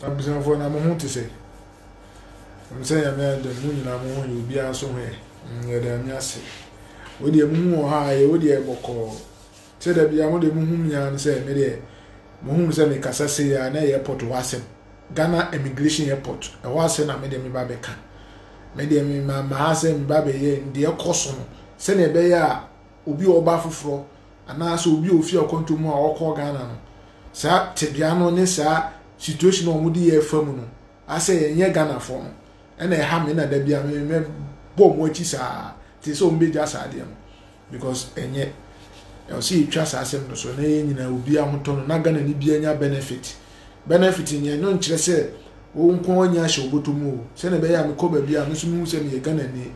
Abusuafoɔ na mo ho te sɛ? Ɛm sɛ nyame ayɛ dɛm mo nyinaa mo ho yɛ obiara nso ho yɛ mm, yɛda nyame ase wo deɛ mo ho wɔ ha yɛ wo deɛ bɔkɔɔ sɛ da bia mo deɛ mo hu mia no sɛ me deɛ mo hu sɛ me kasa se ya na airport hɔ asɛm Ghana immigration airport ɛhɔ ase na me deɛ me ba bɛka me deɛ me ma ma ha sɛ me ba bɛyɛ deɛ kɔ so no sɛdeɛ ɛbɛyɛ a obi a ɔreba foforɔ anaasɛ obi a ɔfiri akwantuo mu a ɔrekɔ Ghana no, saa tebea no ne saa situation a wɔde yɛn refa mu no, ayɛ sɛ yɛnyɛ Ghanafoɔ no na ɛha me na da biara me mɛbɔ wɔn akyi saa te sɛ wɔbɛgya saa adeɛ no because ɛnyɛ ɛwɔ sɛ yɛtwa saa asɛm no so na yɛn nyinaa obi ahotɔ no na Ghana ni bi anya benefit benefit no yɛn no nkyerɛ sɛ wɔn nko anya ahyɛ wɔbɔtɔ mu o sɛdeɛ ɛbɛyɛ a mekɔ baabi a me nso mehu sɛ meyɛ Ghana ni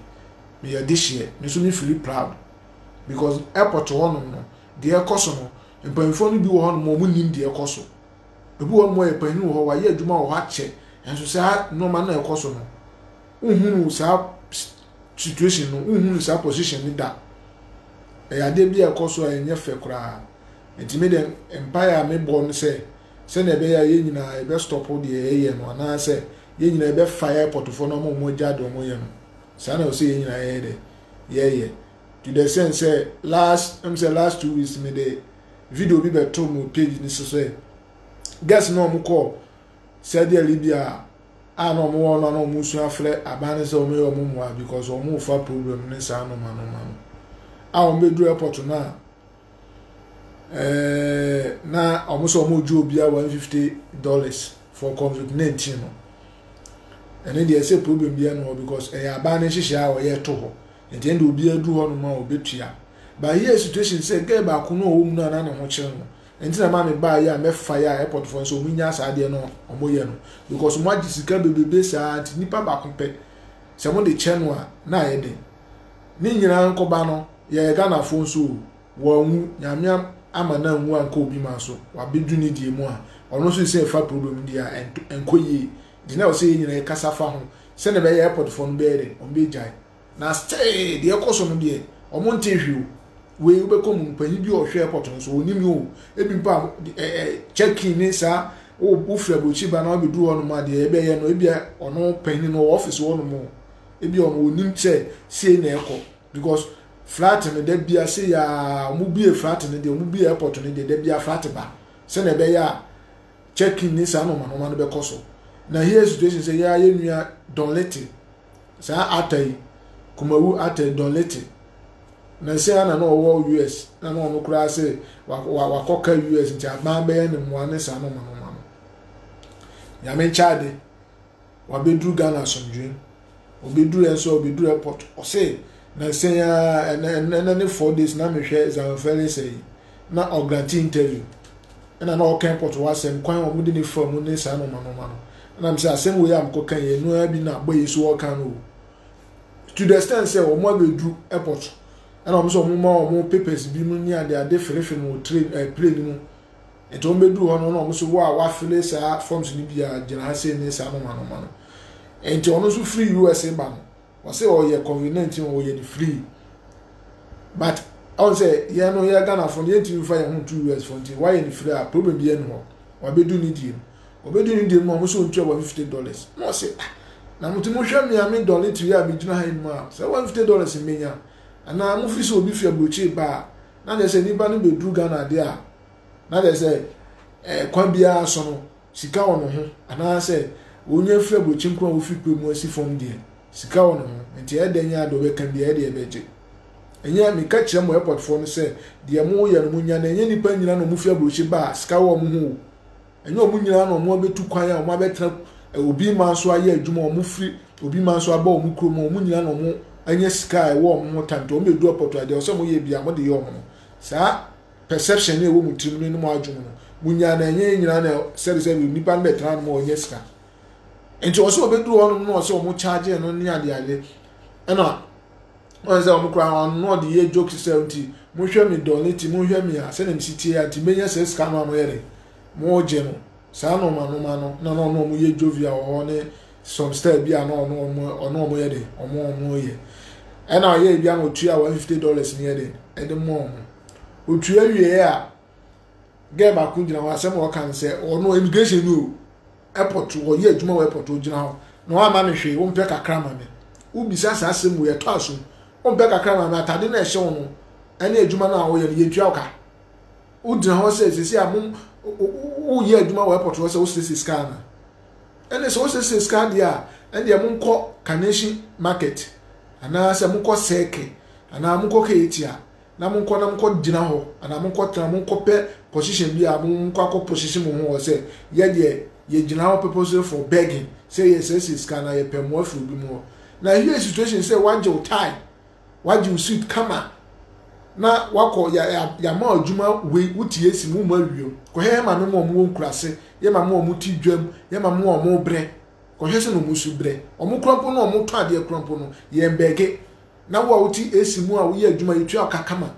Meyɛ adehyeɛ me nso me fili proud because airport hɔ nom no deɛ ɛkɔ so no mpaninfoɔ no bi wɔ hɔ nom a wɔn nim deɛ ɛkɔ so ebi wɔ nom ɔyɛ panin wɔ hɔ wayɛ adwuma wɔ hɔ akyɛ nso saa nnoɔma no a ɛkɔ so no wo hunu saa situation no wo hunu saa position no da ɛyɛ adeɛ bi a ɛkɔ so a ɛnyɛ fɛ koraa nti me deɛ mpaeɛ a me bɔ no sɛ sɛdeɛ ɛbɛyɛ a yɛn nyinaa yɛbɛ stop deɛ yɛyɛ no anaasɛ yɛn nyinaa yɛbɛfa airport foɔ no ama wɔn agya deɛ wɔyɛ no. saa na ɔsɛ yɛn nyinaa yɛyɛ dɛ yɛyɛ to the sense sɛ last ɛm sɛ last two weeks mi de video bi bɛto mu page ni so sɛ guest na wɔn kɔ Saudi Arabia a na wɔn wɔ no a na wɔn sua frɛ aban ne sɛ wɔn yɛ wɔn mmoa because wɔn fa problem ne saa noma noma no a wɔn bɛduru airport no a. ɛɛ na wɔn sɛ wɔn gye obi a one fifty dollars for covid nineteen no ɛne deɛ ɛsɛ problem bi ɛno hɔ because ɛyɛ abaa ne nhyehyɛ a wɔyɛ to hɔ nti ɛnde obi adu hɔ nom a obetua but here situation sɛ gɛɛ baako no a ɔwɔ mu no a na ne ho kyerɛ no nti na maame baa yɛ a mɛfa yɛ a airport fo nso wɔn nya saa adeɛ no wɔn yɛ no because wɔn agye sika bebrebe saa nti nipa baako pɛ sɛ wɔn de kyɛ no a na ayɛ den. Ne nyinaa nkoba no yɛyɛ Ghanafoɔ nso o, wanwu, Nyame ama no anwu ankɔ obi man so, wabɛdu ne deɛ mu a, ɔno nso sɛ ɛfa problem no deɛ a ɛnkɔ yie, nti na ɛwɔ sɛ yɛn nyinaa yɛkasa fa ho, sɛdeɛ ɛbɛyɛ airportfoɔ no bɛyɛ dɛn, wɔn bɛgyae, na still deɛ ɛkɔ so no deɛ, wɔn ntee hwee o, wei wobɛkɔ mu no, panyin bi a ɔhwɛ airport no nso ɔnim o, ebi mpo a eh, eh, check-in ne saa, wofiri aburokyiri ba na wabɛduru hɔ nom a deɛ ɛbɛyɛ no, ebi a ɔno panyin no wɔ office hɔ nom o, ebi wɔn wɔnim sɛ sei na ɛkɔ because flat no da bia se yɛ a wɔn bie flat no deɛ wɔn bie airport no deɛ da bia flat ba sɛnea ɛbɛyɛ a check in ne saa nɔɔma nɔɔma no bɛkɔ so na here situation sɛ yɛ a yɛ nua dɔnlete saa ata yi kumawu ata yi dɔnlete na sɛ ana na ɔwɔ us na na ɔno koraa sɛ wakɔka us nti aban bɛyɛ ne mmoa ne saa nɔɔma nɔɔma no nyame nkyɛn ade. wabɛduru Ghana asomdwoeɛ mu. Ɔbɛduru ɛ nso a, ɔbɛduru airport. Ɔse, na nsɛn a ɛnɛ ɛnɛ ne four days na mehwɛ Zion Felix yi na ɔgranti interview. Ɛna na ɔka airport hɔ asɛm kwan a wɔde ne fa mu ne saa nɔɔma nɔɔma no. Ɛna m sɛ asɛm wei a mekɔka yi ɛno ara bi na bɔ yi nso ɔka no o. To the extent sɛ wɔn abɛduru airport ɛna wɔn sɛ wɔn ma wɔn papers bi mu ne adeade ferefe no wɔ train ɛɛ eh, plane mu. Nti wɔn bɛduru hɔ no na wɔn so wo a wafele saa forms no bi a gyina ha sei ne saa noma noma no nti ɔno nso firi usa ba no wɔsɛ ɔyɛ covid 19 ɔyɛ no free but ɔn sɛ yɛn no yɛ ghanafoɔ no yɛntumi fa yɛn ho nto us foɔ nti wayɛ no free a problem bi ɛne hɔ wabɛdu ne deɛ mu ɔbɛdu ne deɛ mu a wɔn so ntua wɔ fifty dollars na ɔsɛ ah na mo ti mo hwɛ mi a mi dɔle tiri a mi gyina ha yi mu a sɛ one fifty dollars mmenya anaa mo fi sɛ obi fi aburokyire ba a na nyɛ sɛ nipa no bɛduru ghana adeɛ a Na kyerɛ sɛ, eh, kwan biara so no, sika wɔ ne ho, anaasɛ wonya firi aburokyi nko a wofi pɛ mu asi fam deɛ, sika wɔ ne ho, nti ɛyɛ dɛn ara deɛ ɔbɛka biara ɛdeɛ ɛbɛgye. Ɛnyɛ, meka kyerɛ mo airportfoɔ no sɛ, deɛ moyɛ no monya no, ɛnyɛ nnipa nyinaa na wɔfi aburokyi ba a sika wɔ wɔn ho o. Ɛnyɛ wɔn nyinaa na wɔn abɛtu kwan a wɔn abɛtena eh, obi man so ayɛ adwuma, wɔn firi obi man so aba wɔn kurom a wɔn nyinaa na wɔn anya sika a ɛwɔ wɔn ho tanto, wɔn bɛdu airport a deɛ ɛwɔ sɛ moyɛ biara mode yɛ wɔn no. Saa. Perception no a ɛwɔ mo tirim no ne mo adwom no, mo nyaa no ɛnyɛ yɛn nyinaa na sɛde sɛ nipa no bɛtena no ma ɔnyɛ sika. Nti ɔsɛ ɔbɛduru hɔ nom no ɔsɛ ɔmo charge no ne ade ade. Ɛna ɔyɛ sɛ ɔmo koraa ɔno na ɔde yɛ jokes sɛ nti mohwɛ me dɔn nti mohwɛ me a sɛdeɛ mesi tie a nti menya sɛ sika no a moyɛ de mo gye no saa nɔɔma nɔɔma no na na ɔno ɔmo yɛ jovia wɔ hɔ ne some style bi a na ɔno ɔmo ɔno ɔmo yɛ de ɔmo ɔmo yɛ ɛna ɔyɛ ebi ama otua one fifty dollars ne yɛ de ɛde mo ɔmo. Otua wieɛ a, girl baako gyina hɔ, asɛm a ɔka no sɛ, ɔno immigration ni o, airport, ɔyɛ adwuma wɔ airport, ogyina hɔ, na wamma me hwee, wompɛ kakra ma me. Wobisa saa asɛm wei, ɛtɔ asom. Wompɛ kakra ma me, atade no a ɛhyɛ wo no, ɛne adwuma no a woyɛ no, yɛntua wo ka. Wogyina hɔ sɛ, sɛsi a mo, woyɛ adwuma wɔ airport hɔ sɛ wosiesie sika ana? Ɛne sɛ wosiesie sika deɛ a, ɛndeɛ monkɔ Carnation Market, anaasɛ mokɔ Circle, anaa mokɔ Katie a, na monkɔ na monkɔ gyina hɔ anaa monkɔ tena monkɔ pɛ position bi a monkɔ akɔ position mo ho hɔ sɛ yɛ deɛ yɛ gyina hɔ purposely for begging sɛ yɛ sɛ sɛ sika na yɛ pɛ mmoa firi obi mu hɔ na if yɛ situation sɛ wagye wo tie wagye wo suit kama na wakɔ yɛ yɛ yɛ ma adwuma wei wo ti yɛ si mu ma wie kɔ hɛ hɛ ma me mo ɔmo wɔ nkurase yɛ ma mo ɔmo ti dwam yɛ ma mo ɔmo brɛ kɔ hɛ sɛ na ɔmo su brɛ ɔmo kura mpo no ɔmo tɔ adeɛ kura mpo no yɛn bɛge na wo a wote AC mu a woyɛ adwuma yi tua ka kama.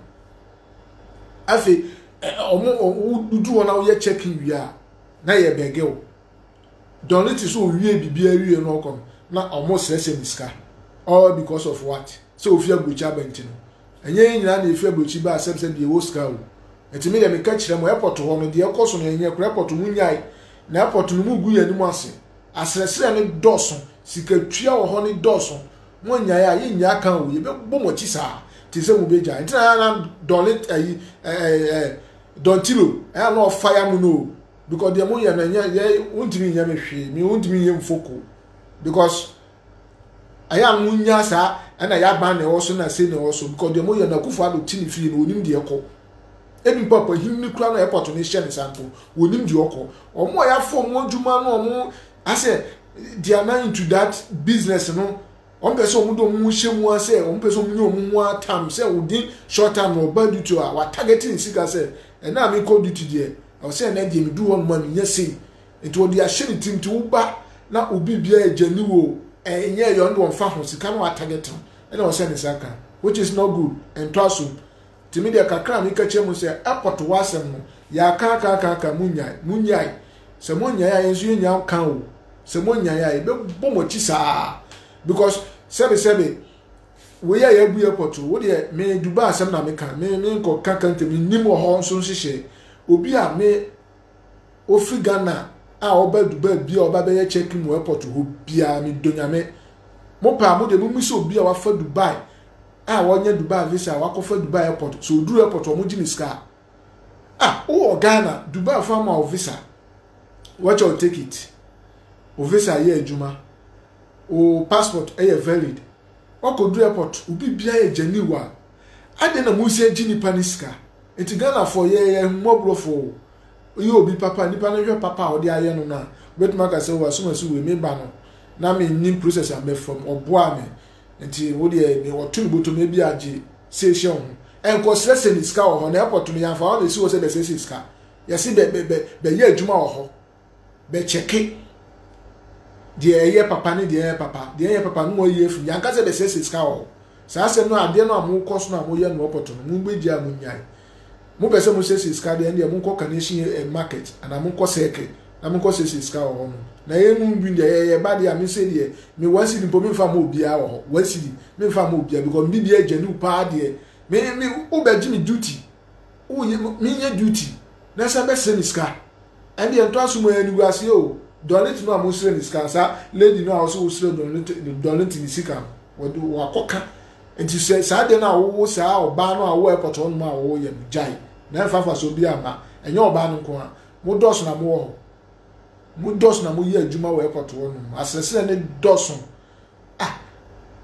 Afei ɔmo wodu hɔ na woyɛ check in wie a na yɛ bɛgɛ wo. Don ne te sɛ owie biribiara wie na ɔkɔ no na ɔmo srɛsrɛ ne sika. All because of what? Sɛ ofi aburokyi aba nti no. Ɛnyɛ yɛn nyinaa na efi aburokyi ba asɛm sɛ deɛ ɛwɔ sika o. Ɛti me deɛ meka kyerɛ mo airport hɔ no deɛ ɛkɔ so no ɛnyɛ kora airport mo nyae na airport no mo gu yɛn anim ase. Asrɛsrɛ no dɔɔso, sika tua wɔ hɔ no dɔɔso. Mo nnyae a, yennyaa kan o, yɛbɛbɔ mo akyi saa, te sɛ mobɛgyae. Nti na na dɔne ayi, dɔntilo, ɛyɛ na ɔfa ya mo no o, because deɛ moyɛ no ɛnyɛ, yɛ, wontumi nyɛ me hwee, me wontumi nyɛ mfoko, because ɛyɛ a monnya saa, ɛna yɛ aban na ɛwɔ so na se na ɛwɔ so, because deɛ moyɛ no akufo ado te ne fie no, onim deɛ ɛkɔ. Ebi mpo akwahinni kura no airport no hyɛ ne sa mpo, onim deɛ ɔkɔ. Wɔn a yɛafɔ wɔn adwuma no, wɔn I say they are now into that business no wɔn pɛ sɛ wɔn de wɔn hyɛ mu a sɛ wɔn pɛ sɛ wɔn nyɛ wɔn ho atam sɛ within short time na ɔba duty a watarget ne sika sɛ ɛna a mekɔ duty deɛ ɛwɔ sɛ ɛna deɛ medu hɔ nom a menya sei nti wɔde ahyɛ ne tirim nti woba na obi bia agya ni wo ɛnyɛ yɛ ɔno de wɔn fa ho sika na watarget no ɛna ɔsɛ ne nsa ka which is not good ɛntɔ asom Nti me deɛ kakra a meka kyerɛ mo sɛ airport hɔ asɛm no yɛaka aka aka aka mo nyae mo nyae sɛ mo nyae a yɛn nso yɛn nya ka o sɛ mo nyae a yɛbɛbɔ mo akyi saa because sɛbe sɛbe wei a yɛabu airport wo deɛ me Dubai asɛm na meka me me nkɔ ka ka ntɛm nim wɔ hɔ nso nhyehyɛ obi a me ofi Ghana a ɔba Dubai bia ɔba bɛyɛ check mu airport hɔ bia me dɔ nyame mo paa mo de mo misa obi a wafa Dubai a wɔnyɛ Dubai visa wakɔfa Dubai airport so oduru airport wɔn gye ne sika ah wɔ Ghana Dubai fo ama o visa wɔkyɛ o take it o visa yɛ adwuma o passport ɛyɛ valid wakɔduru airport obi bia yɛ gyani wa Adɛn na Musa gye nipa ne sika? Enti Ghanafoɔ yɛ yɛ ahummɔborɔfoɔ o, woyɛ obi papa, nipa no hwɛ papa a wode ayɛ no no a, wobɛtumi aka sɛ o asumasi wei me ba no na me nnim process a mɛfa mu, ɔboaa me nti wo deɛ me ɔto no bɔtɔ mu ebi a gye sei hyɛ wo ho, ɛnkɔ srɛ sɛ ne sika wɔ hɔ na airport no yɛamfa hɔ na ɛsi hɔ sɛ bɛsiesie sika, yɛse bɛ bɛ bɛ bɛyɛ adwuma wɔ hɔ. bɛkyɛke deɛ ɛyɛ papa ne deɛ ɛyɛ papa deɛ ɛyɛ papa no mu ayi afiri yɛanka sɛ bɛsɛsɛ sika wɔ hɔ saa asɛm no adeɛ no a mokɔ so no a moyɛ no ɔpɔto no mobɛgya a monyae mopɛ sɛ mosɛsɛ sika deɛ ɛndeɛ monkɔ kanehyi eh, market anaa monkɔ sɛke na monkɔ sɛsɛ sika wɔ hɔ no na ɛyɛ mu bi deɛ ɛyɛ ba deɛ a mesɛ deɛ me one cedi mpo memfa ma obiara wɔ hɔ one cedi memfa ma obiara because me biribiara gya ne wo paa deɛ me me wobɛgye me duty Wo yɛ me nyɛ duty na sɛ bɛ srɛ me sika ɛndeɛ ntɔ so mu ɛyɛ animguaseɛ o Dɔlint no a mo srɛ ne sika no saa lady no a ɔsɛ wo srɛ Dɔlint Dɔlint ne sika no wɔde wakɔ ka nti sɛ saa deɛ no a wowo saa ɔbaa no a wowɔ airport hɔ nom a wɔwɔ yɛ no gyae na ɛmfa fa so bi ama ɛnyɛ ɔbaa no nko a mo dɔso na mo wɔ hɔ mo dɔso na mo yɛ adwuma wɔ airport hɔ nom asrɛsrɛ ne dɔso ah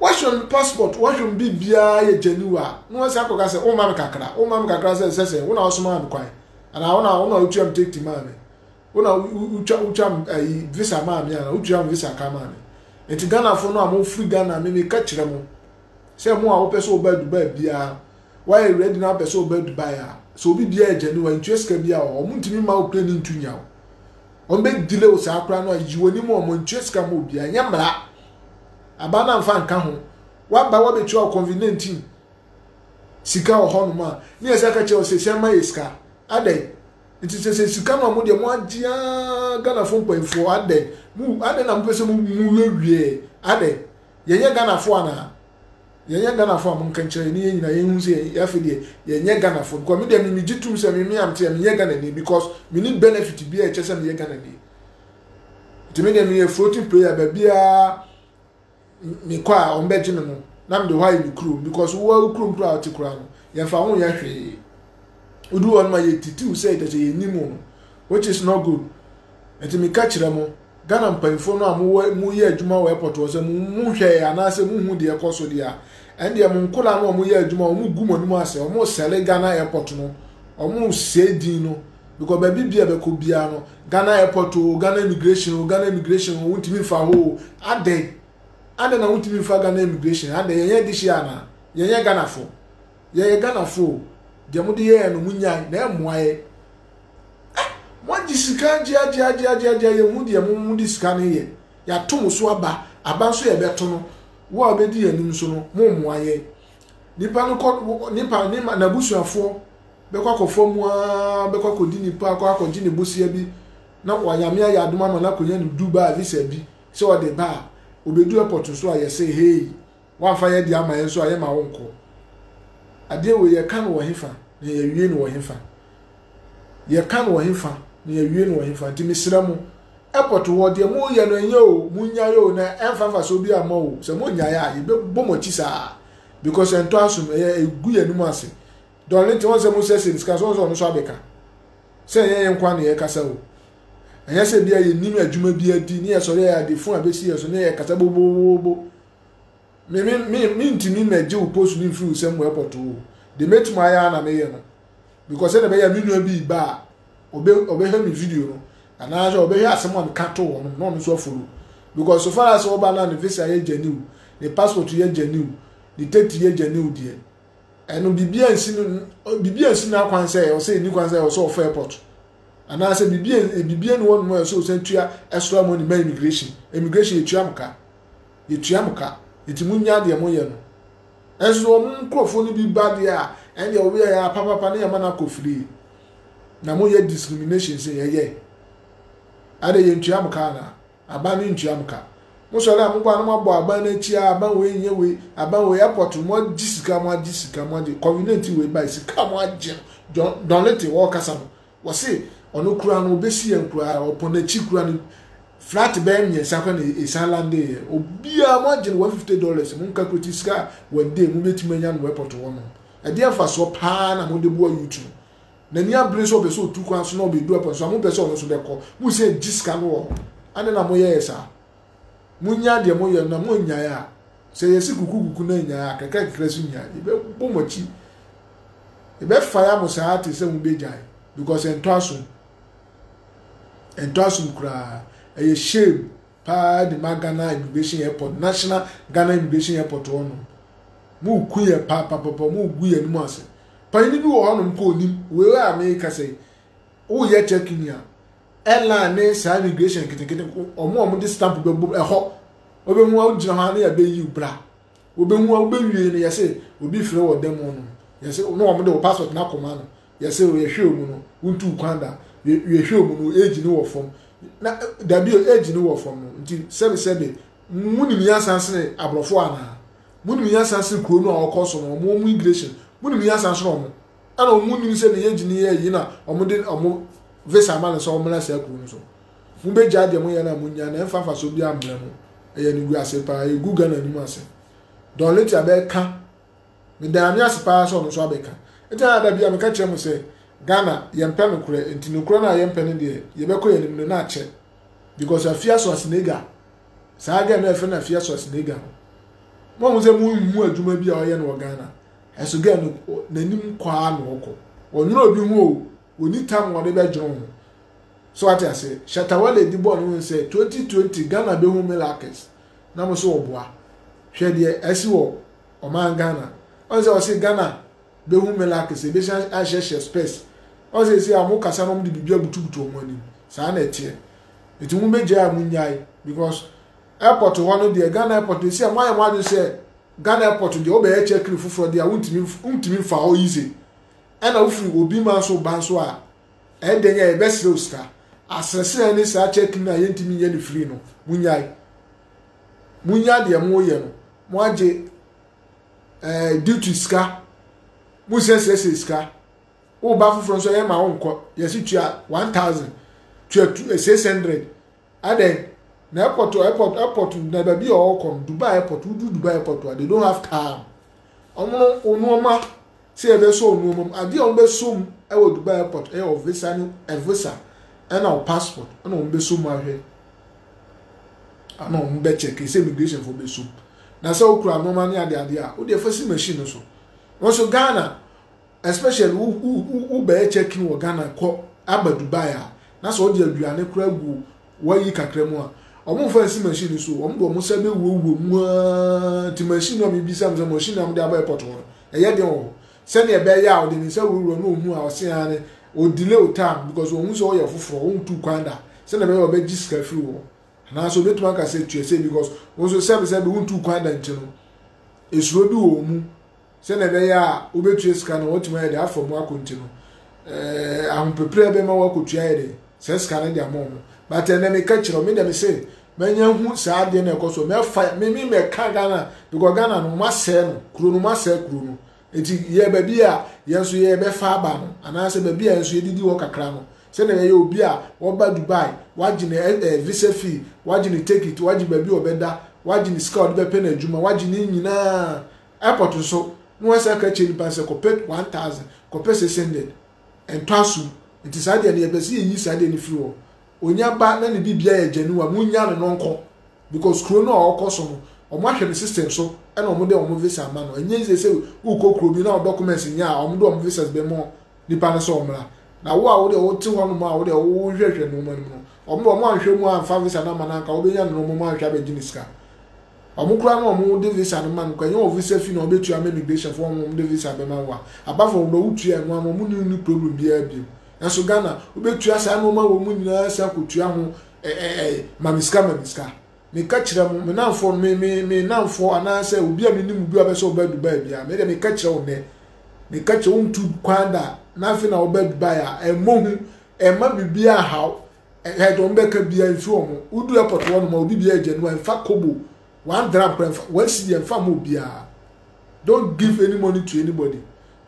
wɔhwɛ me passport wɔhwɛ me biribiara yɛ gyaniwa a na wɔn san kɔka sɛ woma me kakra woma me kakra sɛ nsɛ sɛ wo na wosomaa me kwan anaa wo na wo na wotua me tekiti maa me wo na wotwa wotwa me ayi visa maa me anaa wotua me visa ka maa me nti ghanafoɔ no a mofiri ghana me meka kyerɛ mo sɛ mo a wopɛ sɛ wobaa dubai biara woayɛ ready na wopɛ sɛ wobaa dubai a sɛ obi biara yɛ gyaniwa ntua sika biara wɔn ntumi ma wo plane ntu nya wo wɔn bɛ delay wo saa koraa no a yi wɔn anim wɔn ntua sika ma obi a nyɛ mmara aba na nfa nka ho waba wabetua wɔ convenient sika wɔ hɔ nom a ne yɛ sɛ aka kyerɛ wɔ sɛ sɛ ma yɛ sika adɛn nti sɛ sɛ sika no a mo deɛ mo agye aa ghanafo mpanyinfoɔ adɛn mo adɛn na mo pɛ sɛ mo mu wie wie adɛn yɛnyɛ ghanafo anaa Yɛnyɛ Ghanafoɔ a monka nkyerɛ yɛn ne yɛn nyinaa yɛnhunu sɛ yɛn afei deɛ yɛnyɛ Ghanafoɔ because me deɛ me megye tum sɛ me me a mete a menyɛ Ghanani because menni benefit biara a ɛkyɛ sɛ meyɛ Ghanani nti me deɛ meyɛ floating player baabiara mekɔ a wɔn bɛgye me no na mede hɔ ayɛ me kurom because wo a wo kurom koraa ɔte koraa no yɛmfa ho nyɛ hwee wodu hɔ no ma yɛtitiw sɛ ɛkyɛ sɛ yɛnni mu no which is not good nti meka kyerɛ mo Ghana mpanyimfoɔ no a mowɔ moyɛ adwuma wɔ airport hɔ sɛ mo mo hwɛɛ anaasɛ mo hu deɛ ɛkɔ so deɛ a ɛndeɛ mo nkoraa no a wɔyɛ adwuma wɔn gu mo anim asɛ wɔn sɛle Ghana airport no wɔn sɛe din no because baabi bia bɛkɔ biara no Ghana airport o Ghana immigration o Ghana immigration o wontumi mfa hɔ o adɛn adɛn na wontumi mfa Ghana immigration adɛn yɛnyɛ de hyia anaa yɛnyɛ Ghana fo yɛyɛ Ghana fo o deɛ mo de yɛɛ no mo nyae na ɛmmoa yɛ Eh moagye sika agye agye agye agye agye yɛhu deɛ mo mo de sika no yɛ yɛato mo so aba aba nso yɛbɛto no wo a wobɛdi yɛn anim so no mo mmoa yɛn nipa no kɔ nipa ne ma n'abusuafoɔ bɛkɔ akɔfa mu ara bɛkɔ akɔdi nipa akɔ akɔgye ne bosia bi na wanyame ayɛ adom ama no akɔnya ne Dubai visa bi sɛ ɔde ba a obɛdu airport so a yɛsɛ hei Woamfa yɛn ade amma yɛn nso a, yɛremma wonkɔ. Adeɛ wei, yɛka no wɔ hefa, na yɛawie no wɔ hefa? Yɛka no wɔ hefa, na yɛawie no wɔ hefa? Nti mesrɛ mo, airport hɔ, deɛ moreyɛ no ɛnyɛ o, monnyae o, na ɛmfa mfasoɔ biara mma o. Sɛ monnyae a, yɛbɛbɔ mo akyi saa. Because ɛntɔ asom, ɛyɛ ɛgu yɛn anim ase. Darlington, wɔn sɛ mosiesie ne sika nso, wɔn sɛ ɔno nso abɛka. Sɛ ɛnyɛ yɛn nkoa na yɛkasa o. Ɛnyɛ sɛ bia yɛnim adwuma bi adi, ne yɛsɔre a yɛade fon abɛsi yɛn so, ne yɛkasa bobobobobo. me me me mentumi mmɛgye wo post no mfiri wo nsam airport o de mɛtumi ayɛ a na meyɛ no because sɛdeɛ ɛbɛyɛ me nua bi ba a ɔbɛhwɛ me video no anaasɛ ɔbɛhwɛ asɛm a meka to hɔ no na ɔno nso afolo because so far as ɔba no a ne visa yɛ gyane o ne passport yɛ gyane o ne tɛti yɛ gyane o deɛ ɛno biribi ansi no biribi ansi no akwan sɛ ɔsɛ ɛni kwan sɛ ɔsɛ ɔfa airport anaasɛ biribi biribi ne wɔnom a ɛsɛ ɔsan tua ɛsora mu ne ma immigration immigration ɛtua mo ka Yetua mo ka, enti munnyae deɛ moyɛ no. Nanso sɛ wɔn nkurɔfoɔ no bi ba deɛ a, ɛnneɛ ɔwea yɛn ara papapa na yɛma no akɔ firii. Na moyɛ discrimination sɛ yɛyɛ. Adɛn, yɛntua mo ka anaa? Aban no ntua mo ka. Mosɔre a, mobɔ a na moabɔ aban no akyi a, aban wei nyɛ wei, aban wei, airport no, moagye sika, moagye sika, moagye, convenient wei bae, sika a moagye no, John, Don Little ɔrekasa no, Wɔse ɔno koraa no ɔbɛsi yɛn koraa ɔpɔ n'akyi koraa no flat bɛyɛ mmiɛnsa koraa na ɛsan lande yɛ obiara mo agye no one fifty dollars mo nka kuroti sika a one day mo bɛtumi anya no airport hɔ no ɛdeɛ mfasoɔ paa na mo de boa yutu n'ani abere sɛ ɔpɛ sɛ ɔtu kwan so na ɔbɛdu airport so a mo pɛ sɛ ɔno nso bɛkɔ mo sɛ gye sika no wɔ hɔ ane na mo yɛyɛ saa Monnyae deɛ moyɛ no na monnyae a, sɛ yɛsi kukukuku na nnyae a, kakrakakra so nyae. Yɛbɛbɔ mo akyi. Yɛbɛfaya mo saa te sɛ mobɛgyae because ɛntɔ asom. Ɛntɔ asom koraa. Ɛyɛ shame paa de ma Ghana Immigration Airport, National Ghana Immigration Airport hɔ no. Moku yɛ paapapapa, mogu yɛn mu ase. Panyin bi wɔ hɔnom kɔ onim, wei a mekasa yi, woyɛ check-in a, Airline ne saa immigration nketenkete wɔn a wɔde stamp bɛbom ɛhɔ wobɛhu a wogyina hɔ a ne yɛbɛyiw bra wobɛhu a wobɛwie no yɛse obi frɛ wɔ dan mu no yɛse ne wɔn de wo passport no akɔma no yɛse yɛhwɛ wɔn no wontu kwan da yɛhwɛ wɔn no age no wɔ fam na dabi age no wɔ fam no nti sɛbe sɛbe munim yɛnsan sene aborɔfo anaa munim yɛnsan sene kuro no a wɔkɔ so no wɔn wɔn immigration munim yɛnsan sene wɔn ɛna wɔn mu nim sɛ ne yɛ gyini yɛ yi na wɔn de wɔn visa ama no sɛ wɔn mmerɛ saa kuro no so mo bɛ gya deɛ mo yɛ na mo nya na ɛnfa nfa so bi ammerɛ mo ɛyɛ ne gu ase paa egu ghana anim ase dɔnleti abɛka ne dan ame ase paa sɛ ɔno nso abɛka ɛgyina ada bi a meka kyerɛ mo sɛ ghana yɛmpɛ no korɛ nti no korɛ no a yɛmpɛ no deɛ yɛbɛkɔ yɛn anim no na akyɛ because afia so asenega saa gɛ na ɛfɛ na afia so asenega no mo ho sɛ mo nhu adwuma bi a ɔyɛ no wɔ ghana Ɛso girl no n'anim kwaa na ɔkɔ. Ɔnwene obi ho o, ɔni tam a ɔde bɛdwene ho. So ate ase? Shatta Wale de bɔɔ ne ho sɛ 2020 Ghana bɛhu male actors na mo so ɔboa. Hwɛ deɛ asi wɔ ɔman Ghana. Ɔn sɛ ɔse Ghana bɛhu male actors, ɛbɛsan ahyɛhyɛ spurs. Ɔn sɛ ɛsi a ɔmo kasa na ɔmo de biribi abutubutu ɔmo anim. Saa na ɛteɛ. Ɛti mo bɛgyae a mo nnyae because airport hɔ no deɛ Ghana airport no ɛsi a mo ayɛ mo adwene sɛ Ghana airport no deɛ wobɛyɛ check in foforɔ deɛ a wontumi wontumi mfa hɔ easy ɛna wofiri obi man so ba nso a ɛdɛn a ɛbɛsrɛ wo sika asrɛsrɛ ne saa check in a yɛntumi nyɛ ne free no munyae munya deɛ mo yɛ no mo agye ɛɛ eh, duty sika mo nsɛsrɛsrɛ sika woba foforɔ nso ɛyɛ ma wo nkɔ yɛsi tua one thousand tua two eh, six hundred Adɛn na airport airport airport na baabi a ɔrekɔ no Dubai airport wodu Dubai airport a they don't have car wɔn no wɔn nneɛma sɛ yɛbɛsɔ wɔn nneɛma mu adeɛ a wɔbɛsɔ mu wɔ Dubai airport ɛyɛ wɔ visa ne ɛvisa ɛna wɔ passport ɛna wɔbɛsɔ mu ahwɛ ɛna wɔn bɛkyɛ kese immigration fo bɛsɔ mu na sɛ wokura nneɛma ne adeade a wode ɛfa si machine no so wɔn so Ghana Especially wo wo wo wo bɛyɛ check in wɔ Ghana kɔ aba Dubai a na sɛ ɔde aduane koraa gu wayi kakra mu a ɔmo nfa nsi machine no so o ɔmo de ɔmo nsa bɛ wura wura mu aa nti machine no a mebisa mo sɛ machine a ɔmo de aba airport hɔ no ɛyɛ den wɔ hɔ sɛnea ɛbɛyɛ a ɔde ne nsa wura wura na ohunu a ɔse aa ne o delay o time because wɔn ho sɛ ɔyɛ foforɔ wɔn ntu kwan da sɛnea ɛbɛyɛ a ɔbɛgye sika firi wɔ hɔ anaasɛ obetumi aka sɛ tua sɛ because wɔn nso sɛbi sɛbi wɔn ntu kwan da nti no esuro bi wɔ wɔn mu. Sɛnea ɛbɛyɛ a wobɛtua sika no a wɔatumi ayɛ de afa mu akɔ nti no, eh, ahopepere bɛma wɔakɔtua yɛ de saa sika no de ama wɔn. But ɛnɛ meka kyerɛ wɔn, me deɛ me se, manya hu saa adeɛ no ɛkɔ so mɛfa me me mɛka ghana because ghana no ma sɛɛ no kuro no ma sɛɛ kuro no eti yɛ baabi a yɛn nso yɛ bɛfa aba no anaasɛ baabi a yɛn nso yɛdidi hɔ kakra no sɛdeɛ ɛyɛ obi a ɔba dubai wagye ne ɛɛ eh, eh, visa fee wagye ne ticket wagye baabi a ɔbɛda wagye ne sika a ɔde bɛpɛ n'adwuma wagye ne nyinaa Airport nso, na wɔsan ka kyerɛ nnipa no sɛ kɔpɛ one thousand, kɔpɛ six hundred, ɛntɔ asom. Nti saa deɛ no yɛpɛ sɛ yɛyi saa deɛ no firi hɔ. Onya ba na ne biribiara yɛ genuine a, monnya no na ɔnkɔ. Because kuro no a ɔrekɔ so no, wɔahwɛ no system so na wɔde wɔn visa ama no. Ɛnyɛ easy sɛ worekɔ kuro bi na wo documents nyɛ a, wɔde wɔn visas bɛma nnipa no sɛ ɔmmra. Na wo a wodeɛ wote hɔnom a wodeɛ wohwɛhwɛ nnoɔma no mu no, wɔn deɛ wɔanhwɛ mu amfa visa no amma no a, anka wobɛnya no na wɔn anhwɛ abɛgye no sika. Ɔmo koraa na ɔmo de visa no ma no koraa ɛnyɛ wɔ visa fee na ɔmo bɛtua ama immigration foɔ ɔmo ɔmo de visa bɛma wo a apart from deɛ wo tua ɛno ano ɔmo ne wo nni problem biara biom nanso Ghana wo bɛtua saa nnoɔma wei mu nyinaa san kɔ tua ho ɛ ɛ ɛ mami sika mami sika me ka kyerɛ mo me namfoɔ no me me me namfoɔ anaa sɛ obi a me nim obi a ɔbɛsɛ ɔba Dubai biara me deɛ me ka kyerɛ wo nɛ me ka kyerɛ wo ntu kwan da na afei na ɔba Dubai a ɛmmɔ hu ɛmma biribiara haw Ɛhɛɛ deɛ ɔmo bɛka biaa ɛmfi ɔmo. Wodu airport hɔ nom a obi biaa gya nua ɛmfa kobo, one dram koraa ɛmfa, one cedi ɛmfa mma obiaa. Don't give any money to anybody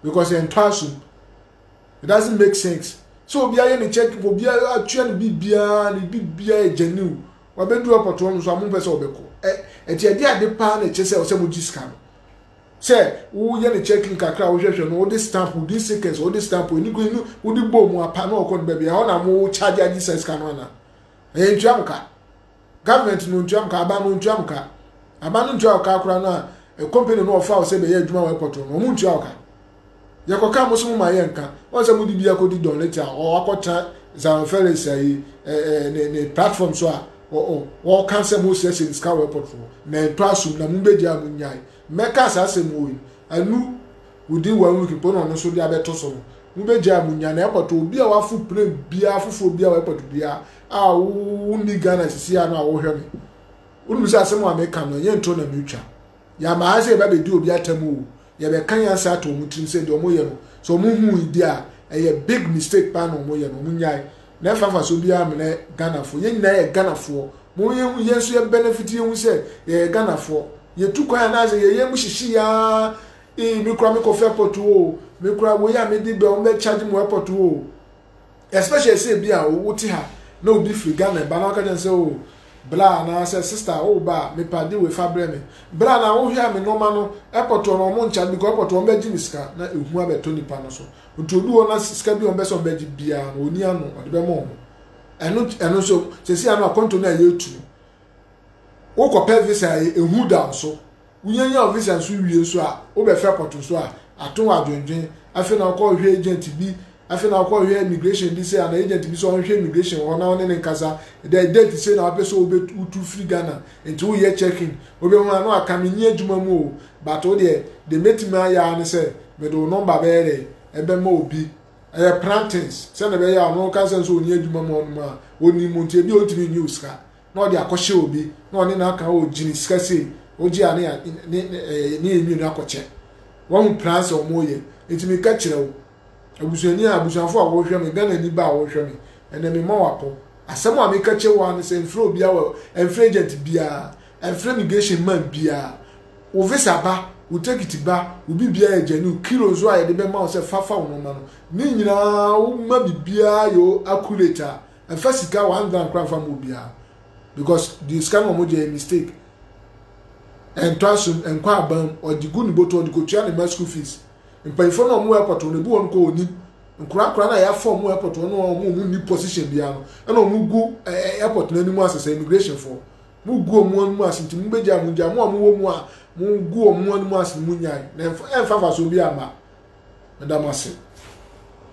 because ɛntɔ asum. It doesn't make sense. Sɛ obiaa yɛ ne check, obiaa atua ne bibiaa, ne bibiaa yɛ gya new. Wabɛdu airport hɔ nom so a mompɛ sɛ ɔbɛkɔ. Ɛ, ɛti ɛde ade paa na ɛkyɛ sɛ ɔsɛ mo gye sika no. Sɛ woyɛ no check in kakra a wohwɛhwɛ no wode stamp wo din seconds wode stamp w'ani kɔ enu wode bɔ mu apa na ɔkɔ no baabi ɛhɔ na mo charge agye saa sika no ana ɛyɛ ntua mo ka government no ntua mo ka aban no ntua mo ka aban no ntua ɔka akora no a company no ɔfa wo sɛ bɛyɛ adwuma wɔ airport no ɔmo ntua ɔka Yɛkɔka mo so mo ma yɛnka. Wɔn sɛ mo de bi akɔdi Don Lete a ɔakɔtena Zion Felix ayi ɛɛ ne ne platform so a wɔka sɛ mo sɛ sɛ nsika wɔ airport foɔ na ɛtɔ asum na mo bɛgya a mo nyae. Mɛka saa asɛm wɔ yi. Ɛnu within one week mpo na ɔno nso de abɛto so no mo bɛgya a mo nya na airport obi a wafo plane biara foforɔ biara wɔ airport biara a wonni Ghana sisi a no a wɔhwɛ me. Wonim sɛ asɛm a meka no ɛnyɛ ntoro na metwa. Yɛama ha sɛ yɛbɛbɛdi obi atam o, yɛbɛka nyansa ato wɔn tirim sɛ deɛ wɔyɛ no, sɛ wɔhui deɛ a, ɛyɛ big mistake paa na wɔyɛ no, wɔnyae. Na ɛmfa mfasoɔ biara mmrɛ Ghanafoɔ. Yɛn nyinaa yɛ Ghanafoɔ. Momma yɛnhu, yɛn nso yɛbɛnɛfiti, yɛnhu sɛ yɛyɛ Ghanafoɔ. Yɛtu kwan anaasɛ yɛn yam mu hyehye yɛn ara, ee, me koraa mekɔfa airport o, me koraa wei a mede bɛ, wɔbɛcharge me wɔ airport o. especially sɛ ebi a wote ha na obi firi ghana ɛba na ɔka kyɛn sɛ o bra anaasɛ sista o ba a mepa de wei fa brɛ me bra na wohwɛ a me nneɛma no ɛpɔtɔ no ɔmo nkya because ɛpɔtɔ ɔmo bɛgye me sika na ehu abɛtɔ nipa no so nti odu hɔ na sika bi ɔmo bɛsɛ ɔmo bɛgye biara no oni ano ɔde bɛma ɔmo ɛno ɛno nso sɛsi ano akɔnto no a yɛtu no wokɔpɛ visa ehu da so. Wunyanyan wo visa nso wie nso a, wobɛfa airport so a, ato wo adwendwen. Afei na wokɔhwehwɛ agent bi, afei na wokɔhwehwɛ immigration bi sɛ anaa agent bi sɛ ɔnhwɛ immigration wɔ hɔ na wo ne no nkasa. Dɛ date sei na wopɛ sɛ wobɛtu wotu firi Ghana. Nti woyɛ check-in. Wobɛhu a na waka menni adwuma mu o, but wo deɛ, deɛ mɛtumi ayɛ ara ne sɛ mede wo number bɛyɛ dɛn, ɛbɛma obi. Ɛyɛ plantings. Sɛdeɛ ɛbɛyɛ a ɔno ɔka sɛ nso ɔnni adwuma mu hɔnom a, ɔnnim wo nti ebia ɔntumi nyi wo sika. na ɔde akɔhyɛ obi na ɔne no aka o gyini sika sei ogye a ne ya ne ɛɛ ne enwi no akɔkyɛ wɔn plan sɛ wɔn yɛ nti mi ka kyerɛ wo abusuani a abusuafo a wɔhwɛ mi gana ni ba a wɔhwɛ mi ɛnɛ mi ma wakɔ asɛm a mi ka kyerɛ wɔn ano sɛ nfrɛ obi awɔ nfrɛ agent biara nfrɛ immigration man biara wo visa ba wo tekiti ba wo bi biara yɛ gyanu kilo nso a yɛde bɛma wo sɛ fafa wo nɔma no ne nyinaa wo ma bi biara yɛ accurate a Ɛfa sika one gram kora nfa ma obiara because deɛ sika no wɔn gye ɛyɛ mistake ɛntɔ asom ɛnkɔ abam ɔde gu ne bɔtɔ ɔde kɔtua ne ma school fees mpanyinfoɔ no wɔn airport wɔn ebu wɔn kɔ wɔn nim nkora kora na yɛafa wɔn airport wɔn wɔn wɔn wɔn ni position biara no ɛna wɔn gu ɛɛ airport no anim asesa immigration foɔ mo gu wɔn anim ase nti mo bɛgya mo gya mo a mo wɔ mu a mo gu wɔn anim ase mo nyae na ɛnfa ɛnfa fa so bi ama ɛda mo ase.